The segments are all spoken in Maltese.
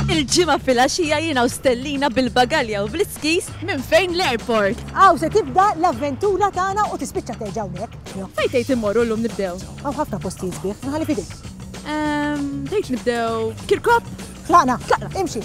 Il-Ġimgħa filgħaxija jiena u Stellina bil-bagalja u bl-iskis minn fejn l-airport. Hawn se tibda l-avventura tagħna u tispiċċa terġa' hawnhekk. Jo. Fejn tgħid immorru llum nibdew? Hawn ħafna postijiet sbieħ, nħalli fidejk. Ehm, tgħid nibdew Kirkop? Tlaqna, tlaqna, imxi.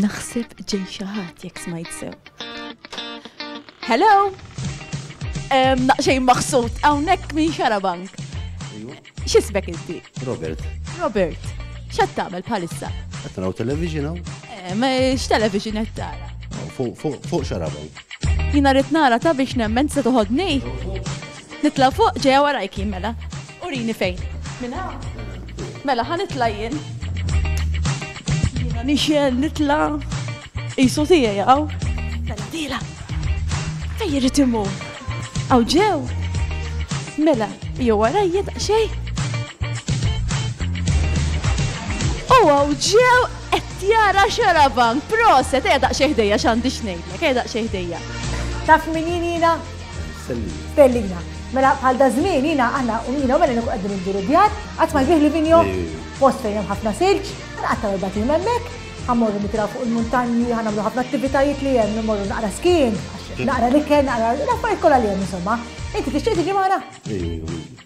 Naħseb ġej xi ħadd jekk smajt sew. Hello! Naqxejn maħsud, hawnhekk minn xarabank. X'isbek inti? Robert. Robert, x'għad tagħmel bħalissa? Qed naraw television hawn. Eh, ma x'television qed tara? Fuq xarabaw. Jina rrid nara ta' biex nemmen se toħodni. Nitla' fuq ġeja warajk mela. Urini fejn. Minn hawn. Mela ħa nitla' jien. Jiena nixel nitla' qisu tiegħi hawn. Mela dila. Fejn irid imur? Hawn ġew. Mela, jew warajja daqsxejn. U hawn ġew qed jara xarabank. Proset, ejja daqsxejn ħdejja x'għandi x'ngħidlek, ejja daqsxejn ħdejja. Taf min jien jiena? Stellina. Mela bħal da żmien jiena aħna u jiena mela nikun qegħdin indiru djar, qatt ma jbih li vinjo post fejn hemm ħafna silġ, nqatta' erba' tim hemmhekk, ħammorru nitraw fuq il-muntanji, ħanamlu ħafna attivitajiet li hemm immorru naqra skin, naqra liken, naqra l-affarijiet kollha li hemm insomma. Inti tixtieq tiġi magħna?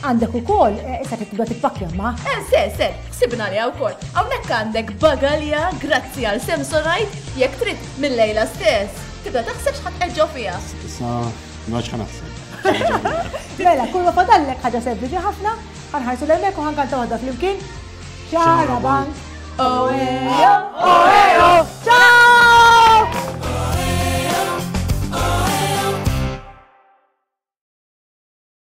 Għandek ukoll, eh, issa kif tibda tippakkja ma. Eh, se, se, sibna li wkoll. Hawnhekk għandek bagalja grazzi għal Samsonite jekk trid mill-lejla stess. Tibda taħseb x'ħadd eġġo fiha. Issa naġħa naħseb. Mela, kull ma fadallek ħaġa sempliċi ħafna, ħanħarsu l-emmek u ħankanta waħda flimkien. Xara bank. Oeo, oeo, ciao!